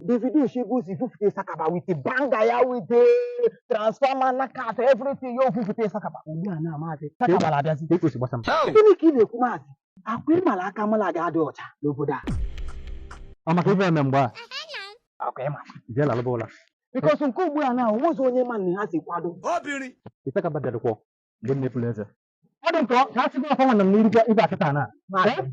Davido Shegun si fufute Sakaba with a banger ya with a transformer knockout everything yo fufute Sakaba. Ugbu a na maazị Isakaba na-abịazi. Kee ka o si gbasa m. Gịnị ka ị na-ekwu maazị? Ọ kwa ị ma la aka m alaghị adị ọcha n'obodo a. Ọ maka ife eme mgbe a. Ọ kwa ị ma. Jee lalụba ụla. Because nke ugbu a na o nwezi onye ma na ha si kwado. Obiri. Isakaba bịadụkwọ mgbe m na-efula eze. Ọ dị m ka ọ ka a sịkwa ọfọ nwanne m n'irikwa ibe akịta na. Maazị.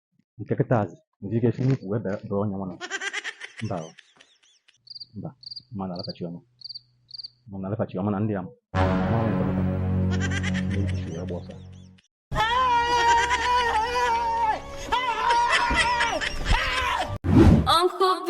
nke kịta azụ nwere ike si n'ukwu wee bee onye nwa mba mba ma na alatachi ọma ma na alatachi ọma na ndị ya Uncle B